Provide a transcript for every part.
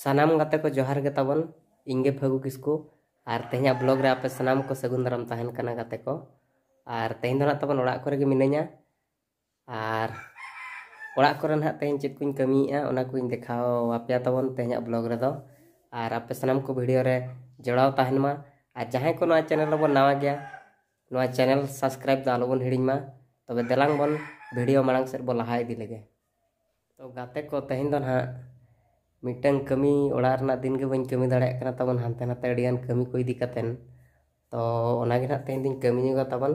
ᱥᱟᱱᱟᱢ ᱜᱟᱛᱮ ᱠᱚ ᱡᱚᱦᱟᱨ ᱜᱮ ᱛᱟᱵᱚᱱ ᱤᱧ ᱜᱮ ᱯᱷᱟᱹᱜᱩ ᱠᱤᱥᱠᱩ ᱟᱨ ᱛᱮᱦᱮᱧᱟᱜ ᱵᱞᱚᱜ ᱨᱮ ᱟᱯᱮ ᱥᱟᱱᱟᱢ ᱠᱚ ᱥᱟᱹᱜᱩᱱ ᱫᱟᱨᱟᱢ ᱛᱟᱦᱮᱱ ᱠᱟᱱᱟ ᱜᱟᱛᱮ ᱠᱚ ᱟᱨ ᱛᱮᱦᱮᱧ ᱫᱚ ᱱᱟᱜ ᱛᱟᱵᱚᱱ ᱚᱲᱟᱜ ᱠᱚᱨᱮ ᱜᱮ ᱢᱤᱱᱟᱹᱧᱟ ᱟᱨ ᱚᱲᱟᱜ ᱠᱚᱨᱮ ᱱᱟᱜ ᱛᱮᱦᱮᱧ ᱪᱮᱫ ᱠᱚᱧ ᱠᱟᱹᱢᱤᱭᱮᱫᱼᱟ ᱚᱱᱟ ᱠᱚᱧ ᱫᱮᱠᱷᱟᱣ ᱟᱯᱮᱭᱟ ᱛᱟᱵᱚᱱ ᱛᱮᱦᱮᱧᱟᱜ ᱵᱞᱚᱜ ᱨᱮᱫᱚ ᱟᱨ ᱟᱯᱮ ᱥᱟᱱᱟᱢ ᱠᱚ ᱵᱷᱤᱰᱤᱭᱳ ᱨᱮ ᱡᱚᱲᱟᱣ ᱛᱟᱦᱮᱱ ᱢᱟ ᱟᱨ ᱡᱟᱦᱟᱸᱭ ᱠᱚ ᱱᱚᱣᱟ ᱪᱮᱱᱮᱞ ᱨᱮᱵᱚᱱ ᱱᱟᱣᱟ ᱜᱮᱭᱟ ᱱᱚᱣᱟ ᱪᱮᱱᱮᱞ ᱥᱟᱵᱥᱠᱨᱟᱭᱤᱵ ᱫᱚ ᱟᱞᱚᱵᱚᱱ ᱦᱤᱲᱤᱧ ᱢᱟ ᱛᱚᱵᱮ ᱫᱮᱞᱟᱝ ᱵᱚᱱ ᱵᱷᱤᱰᱤᱭᱳ ᱢᱟᱲᱟᱝ ᱥᱮᱫ ᱵᱚᱱ ᱞᱟᱦᱟ ᱤᱫᱤ ᱞᱮᱜᱮ ᱛᱚ ᱜᱟᱛᱮ ᱠᱚ ᱛᱮᱦᱮᱧ ᱫᱚ ᱱᱟᱦᱟᱜ ᱢᱤᱫᱴᱟᱝ ᱠᱟᱹᱢᱤ ᱚᱲᱟᱜ ᱨᱮᱱᱟᱜ ᱫᱤᱱ ᱜᱮ ᱵᱟᱹᱧ ᱠᱟᱹᱢᱤ ᱫᱟᱲᱮᱭᱟᱜ ᱠᱟᱱᱟ ᱛᱟᱵᱚᱱ ᱦᱟᱱᱛᱮ ᱱᱟᱛᱮ ᱟᱹᱰᱤᱜᱟᱱ ᱠᱟᱹᱢᱤ ᱠᱚ ᱤᱫᱤ ᱠᱟᱛᱮᱱ ᱛᱚ ᱚᱱᱟᱜᱮ ᱱᱟᱦᱟᱜ ᱛᱮᱦᱮᱧ ᱫᱚᱧ ᱠᱟᱹᱢᱤ ᱧᱚᱜᱟ ᱛᱟᱵᱚᱱ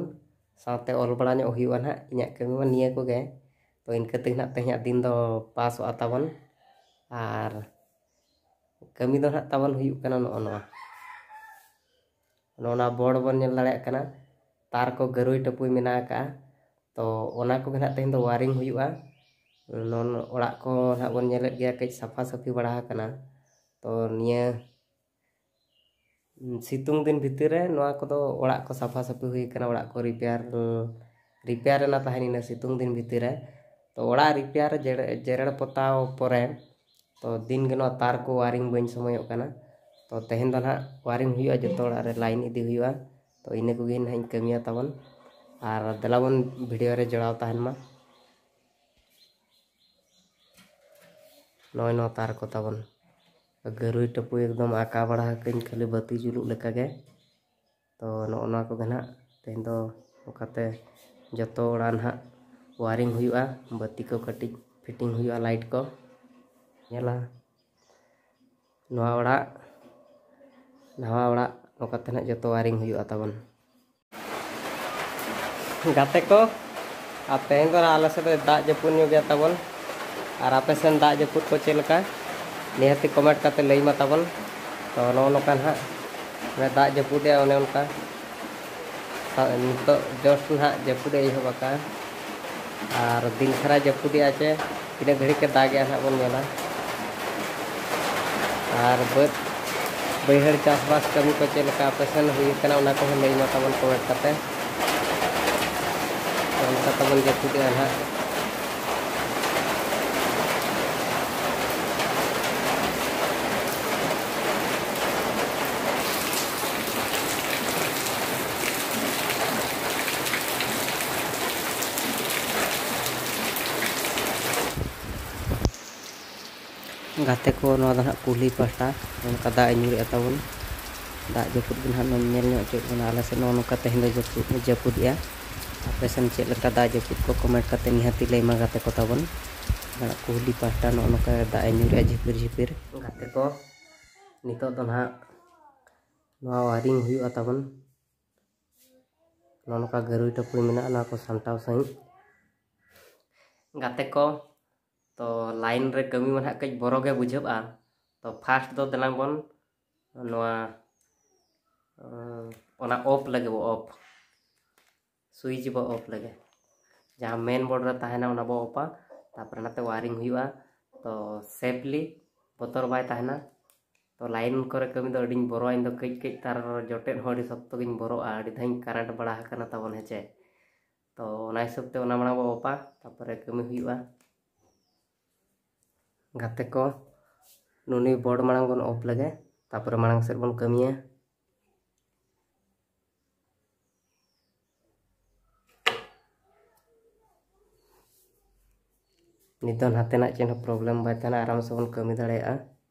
ᱥᱟᱶᱛᱮ ᱚᱞ ᱵᱟᱲᱟ ᱧᱚᱜ ᱦᱩᱭᱩᱜᱼᱟ ᱱᱟᱦᱟᱜ ᱤᱧᱟᱹᱜ ᱠᱟᱹᱢᱤ ᱢᱟ ᱱᱤᱭᱟᱹ ᱠᱚᱜᱮ ᱛᱚ ᱤᱱᱠᱟᱹ ᱛᱮᱜᱮ ᱱᱟᱦᱟᱜ ᱛᱮᱦᱮᱧᱟᱜ ᱫᱤᱱ ᱫᱚ ᱯᱟᱥᱚᱜᱼᱟ ᱛᱟᱵᱚᱱ ᱟᱨ ᱠᱟᱹᱢᱤ ᱫᱚ ᱱᱟᱦᱟᱜ ᱛᱟᱵᱚᱱ ᱦᱩᱭᱩᱜ ᱠᱟᱱᱟ ᱱᱚᱜᱼᱚ ᱱᱚᱣᱟ ᱱᱚᱣᱟ ᱵᱚᱲ ᱵᱚᱱ ᱧᱮᱞ ᱫᱟᱲᱮᱭᱟᱜ ᱠᱟᱱᱟ ᱛᱟᱨ ᱠᱚ ᱜᱟᱹᱨᱩᱭ ᱴᱟᱹᱯᱩᱭ ᱢᱮᱱᱟᱜ ᱟᱠᱟᱜᱼᱟ ᱛᱚ ᱚᱱᱟ ᱠᱚᱜᱮ ᱱᱟᱦᱟᱜ ᱛᱮᱦᱮᱧ ᱫᱚ ᱣᱟᱨᱤᱝ ᱦᱩᱭᱩᱜᱼᱟ ᱱᱚᱱ ᱚᱲᱟᱜ ᱠᱚ ᱱᱟᱦᱟᱜ ᱵᱚᱱ ᱧᱮᱞᱮᱫ ᱜᱮᱭᱟ ᱠᱟᱹᱡ ᱥᱟᱯᱷᱟ ᱥᱟᱹᱯᱷᱤ ᱵᱟᱲᱟ ᱟᱠᱟᱱᱟ ᱛᱚ ᱱᱤᱭᱟᱹ ᱥᱤᱛᱩᱝ ᱫᱤᱱ ᱵᱷᱤᱛᱤᱨ ᱨᱮ ᱱᱚᱣᱟ ᱠᱚᱫᱚ ᱚᱲᱟᱜ ᱠᱚ ᱥᱟᱯᱷᱟ ᱥᱟᱹᱯᱷᱤ ᱦᱩᱭ ᱟᱠᱟᱱᱟ ᱚᱲᱟᱜ ᱠᱚ ᱨᱤᱯᱮᱭᱟᱨ ᱨᱤᱯᱮᱭᱟᱨ ᱨᱮᱱᱟᱜ ᱛᱟᱦᱮᱱ ᱤᱱᱟᱹ ᱥᱤᱛᱩᱝ ᱫᱤᱱ ᱵᱷᱤᱛᱤᱨ ᱨᱮ ᱛᱚ ᱚᱲᱟᱜ ᱨᱤᱯᱮᱭᱟᱨ ᱡᱮᱨᱮᱲ ᱯᱚᱛᱟᱣ ᱯᱚᱨᱮ ᱛᱚ ᱫᱤᱱ ᱜᱮ ᱱᱚᱣᱟ ᱛᱟᱨ ᱠᱚ ᱳᱭᱟᱨᱤᱝ ᱵᱟᱹᱧ ᱥᱚᱢᱚᱭᱚᱜ ᱠᱟᱱᱟ ᱛᱚ ᱛᱮᱦᱮᱧ ᱫᱚ ᱦᱟᱸᱜ ᱳᱭᱟᱨᱤᱝ ᱦᱩᱭᱩᱜᱼᱟ ᱡᱚᱛᱚ ᱚᱲᱟᱜ ᱨᱮ ᱞᱟᱭᱤᱱ ᱤᱫᱤ ᱦᱩᱭᱩᱜᱼᱟ ᱛᱚ ᱤᱱᱟᱹ ᱠᱚᱜᱮ ᱦᱟᱸᱜ ᱤᱧ ᱠᱟᱹᱢᱤᱭᱟ ᱛᱟᱵᱚᱱ ᱟᱨ ᱫᱮᱞᱟ ᱵᱚᱱ ᱵᱷᱤᱰᱤᱭᱳ ᱨᱮ ᱡᱚᱲᱟᱣ ᱛᱟᱦᱮᱱ ᱢᱟ ᱱᱚᱜᱼᱚᱭ ᱱᱚᱣᱟ ᱛᱟᱨ ᱠᱚ ᱛᱟᱵᱚᱱ ᱜᱟᱹᱨᱩᱭ ᱴᱟᱹᱯᱩᱭ ᱮᱠᱫᱚᱢ ᱟᱸᱠᱟᱣ ᱵᱟᱲᱟ ᱟᱠᱟᱫᱟᱹᱧ ᱠᱷᱟᱹᱞᱤ ᱵᱟᱹᱛᱤ ᱡᱩᱞᱩᱜ ᱞᱮᱠᱟᱜᱮ ᱛᱚ ᱱᱚᱜᱼᱚ ᱱᱚᱣᱟ ᱠᱚᱜᱮ ᱱᱟᱦᱟᱜ ᱛᱮᱦᱮᱧ ᱫᱚ ᱚᱱᱠᱟᱛᱮ ᱡᱚᱛᱚ ᱚᱲᱟᱜ ᱱᱟᱦᱟᱜ ᱳᱣᱟᱨᱤᱝ ᱦᱩᱭᱩᱜᱼᱟ ᱵᱟᱹᱛᱤ ᱠᱚ ᱠᱟᱹᱴᱤᱡ ᱯᱷᱤᱴᱤᱝ ᱦᱩᱭᱩᱜᱼᱟ ᱞᱟᱭᱤᱴ ᱠᱚ ᱧᱮᱞᱟ ᱱᱚᱣᱟ ᱚᱲᱟᱜ ᱱᱟᱣᱟ ᱚᱲᱟᱜ ᱚᱱᱠᱟᱛᱮ ᱱᱟᱦᱟᱜ ᱡᱚᱛᱚ ᱳᱣᱟᱨᱤᱝ ᱦᱩᱭᱩᱜᱼᱟ ᱛᱟᱵᱚᱱ ᱜᱟᱛᱮ ᱠᱚ ᱟᱨ ᱛᱮᱦᱮᱧ ᱫᱚ ᱱᱟᱦᱟᱜ ᱟᱞᱮ ᱥᱮᱫ ᱫᱚᱭ ᱫᱟᱜ ᱡᱟᱹᱯᱩᱫ ᱧᱚᱜ ᱜᱮᱭᱟ ᱛᱟᱵᱚᱱ ᱟᱨ ᱟᱯᱮ ᱥᱮᱱ ᱫᱟᱜ ᱡᱟᱹᱯᱩᱫ ᱠᱚ ᱪᱮᱫ ᱞᱮᱠᱟ ᱱᱤᱦᱟᱹᱛᱤ ᱠᱚᱢᱮᱱᱴ ᱠᱟᱛᱮ ᱞᱟᱹᱭ ᱢᱟ ᱛᱟᱵᱚᱱ ᱛᱚ ᱱᱚᱜᱼᱚ ᱱᱚᱝᱠᱟ ᱱᱟᱦᱟᱜ ᱚᱱᱮ ᱫᱟᱜ ᱡᱟᱹᱯᱩᱫᱮᱜᱼᱟ ᱚᱱᱮ ᱚᱱᱠᱟ ᱱᱤᱛᱚᱜ ᱡᱚᱥᱴ ᱱᱟᱦᱟᱜ ᱡᱟᱹᱯᱩᱫᱮ ᱮᱦᱚᱵ ᱟᱠᱟᱫᱼᱟ ᱟᱨ ᱫᱤᱱ ᱫᱷᱟᱨᱟᱭ ᱡᱟᱹᱯᱩᱫᱮᱜᱼᱟ ᱪᱮ ᱛᱤᱱᱟᱹᱜ ᱜᱷᱟᱹᱲᱤᱡ ᱠᱚ ᱫᱟᱜᱮᱜᱼᱟ ᱱᱟᱦᱟᱜ ᱵᱚᱱ ᱧᱮᱞᱟ ᱟᱨ ᱵᱟᱹᱫᱽ ᱵᱟᱹᱭᱦᱟᱹᱲ ᱪᱟᱥᱵᱟᱥ ᱠᱟᱹᱢᱤ ᱠᱚ ᱪᱮᱫ ᱞᱮᱠᱟ ᱟᱯᱮ ᱥᱮᱱ ᱦᱩᱭᱩᱜ ᱠᱟᱱᱟ ᱚᱱᱟ ᱠᱚᱦᱚᱸ ᱞᱟᱹᱭ ᱢᱟ ᱛᱟᱵᱚᱱ ᱠᱚᱢᱮᱱᱴ ᱠᱟᱛᱮ ᱚᱱᱠᱟ ᱛᱟᱵᱚᱱ ᱡᱟᱹᱯᱩᱫᱮᱜᱼᱟ ᱱᱟᱦᱟᱜ ᱜᱟᱛᱮ ᱠᱚ ᱱᱚᱣᱟ ᱫᱚ ᱱᱟᱦᱟᱜ ᱠᱩᱞᱦᱤ ᱯᱟᱦᱴᱟ ᱱᱚᱝᱠᱟ ᱫᱟᱜ ᱮ ᱧᱩᱨᱮᱜᱼᱟ ᱛᱟᱵᱚᱱ ᱫᱟᱜ ᱡᱟᱹᱯᱩᱫ ᱜᱮ ᱱᱟᱦᱟᱜ ᱧᱮᱞ ᱧᱚᱜ ᱦᱚᱪᱚᱭᱮᱫ ᱵᱚᱱᱟ ᱟᱞᱮ ᱥᱮᱫ ᱱᱚᱜᱼᱚ ᱱᱚᱝᱠᱟ ᱛᱮᱦᱮᱧ ᱫᱚ ᱡᱟᱹᱯᱩᱫ ᱡᱟᱹᱯᱩᱫᱮᱜᱼᱟ ᱟᱯᱮ ᱥᱮᱱ ᱪᱮᱫ ᱞᱮᱠᱟ ᱫᱟᱜ ᱡᱟᱹᱯᱩᱫ ᱠᱚ ᱠᱚᱢᱮᱱᱴ ᱠᱟᱛᱮ ᱱᱤᱦᱟᱹᱛᱤ ᱞᱟᱹᱭ ᱢᱟ ᱜᱟᱛᱮ ᱠᱚ ᱛᱟᱵᱚᱱ ᱠᱩᱞᱦᱤ ᱯᱟᱦᱴᱟ ᱱᱚᱜᱼᱚ ᱱᱚᱝᱠᱟ ᱫᱟᱜ ᱮ ᱧᱩᱨᱮᱜᱼᱟ ᱡᱷᱤᱯᱤᱨ ᱡᱷᱤᱯᱤᱨ ᱜᱟᱛᱮ ᱠᱚ ᱱᱤᱛᱚᱜ ᱫᱚ ᱱᱟᱦᱟᱜ ᱱᱚᱣᱟ ᱳᱣᱟᱨᱤᱝ ᱦᱩᱭᱩᱜᱼᱟ ᱛᱟᱵᱚᱱ ᱱᱚᱜᱼᱚ ᱱᱚᱝᱠᱟ ᱜᱟᱹᱨᱩᱭ ᱴᱟᱹᱯᱩᱭ ᱢᱮᱱᱟᱜᱼᱟ ᱱᱚᱣᱟ ᱠᱚ ᱥᱟᱢᱴᱟᱣ ᱥᱟᱺᱦᱤᱡ ᱜᱟᱛᱮ ᱠᱚ ᱛᱚ ᱞᱟᱭᱤᱱ ᱨᱮ ᱠᱟᱹᱢᱤ ᱢᱟ ᱱᱟᱦᱟᱜ ᱠᱟᱹᱡ ᱵᱚᱨᱚ ᱜᱮ ᱵᱩᱡᱷᱟᱹᱜᱼᱟ ᱛᱚ ᱯᱷᱟᱥᱴ ᱫᱚ ᱫᱮᱞᱟᱝ ᱵᱚᱱ ᱱᱚᱣᱟ ᱚᱱᱟ ᱚᱯᱷ ᱞᱟᱹᱜᱤᱫ ᱵᱚ ᱚᱯᱷ ᱥᱩᱭᱤᱪ ᱵᱚ ᱚᱯᱷ ᱞᱟᱹᱜᱤᱫ ᱡᱟᱦᱟᱸ ᱢᱮᱱ ᱵᱳᱨᱰ ᱨᱮ ᱛᱟᱦᱮᱱᱟ ᱚᱱᱟ ᱵᱚ ᱚᱯᱷᱟ ᱛᱟᱨᱯᱚᱨᱮ ᱱᱟᱛᱮ ᱣᱟᱭᱨᱤᱝ ᱦᱩᱭᱩᱜᱼᱟ ᱛᱚ ᱥᱮᱯᱷᱞᱤ ᱵᱚᱛᱚᱨ ᱵᱟᱭ ᱛᱟᱦᱮᱱᱟ ᱛᱚ ᱞᱟᱭᱤᱱ ᱠᱚᱨᱮ ᱠᱟᱹᱢᱤ ᱫᱚ ᱟᱹᱰᱤᱧ ᱵᱚᱨᱚᱜᱼᱟ ᱤᱧ ᱫᱚ ᱠᱟᱹᱡ ᱠᱟᱹᱡ ᱛᱟᱨ ᱡᱚᱴᱮᱫ ᱦᱚᱸ ᱟᱹᱰᱤ ᱥᱚᱠᱛᱚ ᱜᱤᱧ ᱵᱚᱨᱚᱜᱼᱟ ᱟᱹᱰᱤ ᱫᱷᱟᱣᱤᱧ ᱠᱟᱨᱮᱱᱴ ᱵᱟᱲᱟ ᱟᱠᱟᱱᱟ ᱛᱟᱵᱚᱱ ᱦᱮᱸᱪᱮ ᱛᱚ ᱚᱱᱟ ᱦᱤᱥᱟᱹᱵ ᱛᱮ ᱚᱱᱟ ᱢᱟᱲᱟᱝ ᱵᱚ ᱚᱯᱟ ᱛᱟᱯᱚᱨᱮ ᱠᱟᱹᱢᱤ ᱦᱩᱭᱩᱜᱼᱟ ᱜᱟᱛᱮ ᱠᱚ ᱱᱩᱱᱤ ᱵᱚᱨᱰ ᱢᱟᱲᱟᱝ ᱵᱚᱱ ᱚᱯ ᱞᱮᱜᱮ ᱛᱟᱯᱚᱨᱮ ᱢᱟᱲᱟᱝ ᱥᱮᱫ ᱵᱚᱱ ᱠᱟᱹᱢᱤᱭᱟ ᱱᱤᱛᱚᱜ ᱱᱟᱛᱮᱱᱟᱜ ᱪᱮᱫ ᱦᱚᱸ ᱯᱨᱚᱵᱞᱮᱢ ᱵᱟᱭ ᱛᱟᱦᱮᱱᱟ ᱟᱨᱟᱢ ᱥᱮ ᱵᱚᱱ ᱠᱟᱹᱢᱤ ᱫᱟᱲᱮᱭᱟᱜᱼᱟ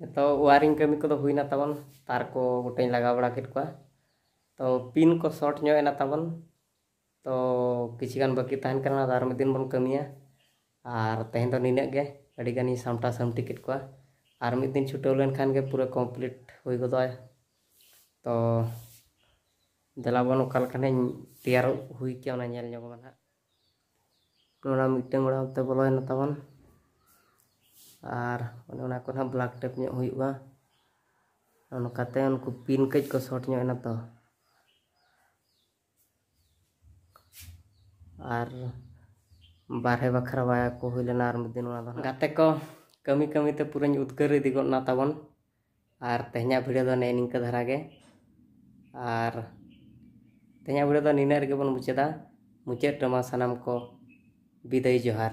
ᱡᱚᱛᱚ ᱳᱣᱟᱨᱤᱝ ᱠᱟᱹᱢᱤ ᱠᱚᱫᱚ ᱦᱩᱭᱱᱟ ᱛᱟᱵᱚᱱ ᱛᱟᱨ ᱠᱚ ᱜᱚᱴᱟᱧ ᱞᱟᱜᱟᱣ ᱵᱟᱲᱟ ᱠᱮᱫ ᱠᱚᱣᱟ ᱛᱚ ᱯᱤᱱ ᱠᱚ ᱥᱚᱨᱴ ᱧᱚᱜ ᱮᱱᱟ ᱛᱟᱵᱚᱱ ᱛᱚ ᱠᱤᱪᱷᱩ ᱜᱟᱱ ᱵᱟᱹᱠᱤ ᱛᱟᱦᱮᱱ ᱠᱟᱱᱟ ᱟᱫᱚ ᱟᱨ ᱢᱤᱫ ᱫᱤᱱ ᱵᱚᱱ ᱠᱟᱹᱢᱤᱭᱟ ᱟᱨ ᱛᱮᱦᱮᱧ ᱫᱚ ᱱᱤᱱᱟᱹᱜ ᱜᱮ ᱟᱹᱰᱤ ᱜᱟᱱᱤᱧ ᱥᱟᱢᱴᱟᱣ ᱥᱟᱢᱴᱤ ᱠᱮᱫ ᱠᱚᱣᱟ ᱟᱨ ᱢᱤᱫ ᱫᱤᱱ ᱪᱷᱩᱴᱟᱹᱣ ᱞᱮᱱᱠᱷᱟᱱ ᱜᱮ ᱯᱩᱨᱟᱹ ᱠᱚᱢᱯᱞᱤᱴ ᱦᱩᱭ ᱜᱚᱫᱚᱜᱼᱟ ᱛᱚ ᱫᱮᱞᱟ ᱵᱚᱱ ᱚᱠᱟ ᱞᱮᱠᱟᱱᱟᱜ ᱤᱧ ᱛᱮᱭᱟᱨ ᱦᱩᱭ ᱠᱮᱭᱟ ᱚᱱᱟ ᱧᱮᱞ ᱧᱚᱜ ᱟᱵᱚᱱ ᱦᱟᱸᱜ ᱚᱱᱟ ᱢᱤᱫᱴᱟᱝ ᱚᱲᱟᱜ ᱚᱱᱛᱮ ᱵᱚᱞᱚᱭᱮᱱᱟ ᱛᱟᱵᱚᱱ ᱟᱨ ᱚᱱᱮ ᱚᱱᱟ ᱠᱚ ᱱᱟᱦᱟᱜ ᱵᱞᱟᱠ ᱴᱮᱯ ᱧᱚᱜ ᱦᱩᱭᱩᱜᱼᱟ ᱚᱱᱠᱟᱛᱮ ᱩᱱᱠᱩ ᱯᱤᱱ ᱠᱟᱹᱡ ᱠᱚ ᱥᱚᱨᱴ ᱧᱚᱜ ᱮᱱᱟ ᱛᱚ ᱟᱨ ᱵᱟᱨᱦᱮ ᱵᱟᱠᱷᱨᱟ ᱵᱟᱭᱟ ᱠᱚ ᱦᱩᱭ ᱞᱮᱱᱟ ᱟᱨ ᱢᱤᱫ ᱫᱤᱱ ᱚᱱᱟ ᱫᱚ ᱜᱟᱛᱮ ᱠᱚ ᱠᱟᱹᱢᱤ ᱠᱟᱹᱢᱤᱛᱮ ᱯᱩᱨᱟᱹᱧ ᱩᱫᱽᱜᱟᱹᱨ ᱤᱫᱤ ᱜᱚᱫ ᱱᱟ ᱛᱟᱵᱚᱱ ᱟᱨ ᱛᱮᱦᱮᱧᱟᱜ ᱵᱷᱤᱰᱤᱭᱳ ᱫᱚ ᱱᱮᱜᱼᱮ ᱱᱤᱝᱠᱟᱹ ᱫᱷᱟᱨᱟ ᱜᱮ ᱟᱨ ᱛᱮᱦᱮᱧᱟᱜ ᱵᱷᱤᱰᱤᱭᱳ ᱫᱚ ᱱᱤᱱᱟᱹᱜ ᱨᱮᱜᱮ ᱵᱚᱱ ᱢᱩᱪᱟᱹᱫᱟ ᱢᱩᱪᱟᱹᱫ ᱨᱮᱢᱟ ᱥᱟᱱᱟᱢ ᱠᱚ ᱵᱤᱫᱟᱹᱭ ᱡᱚᱦᱟᱨ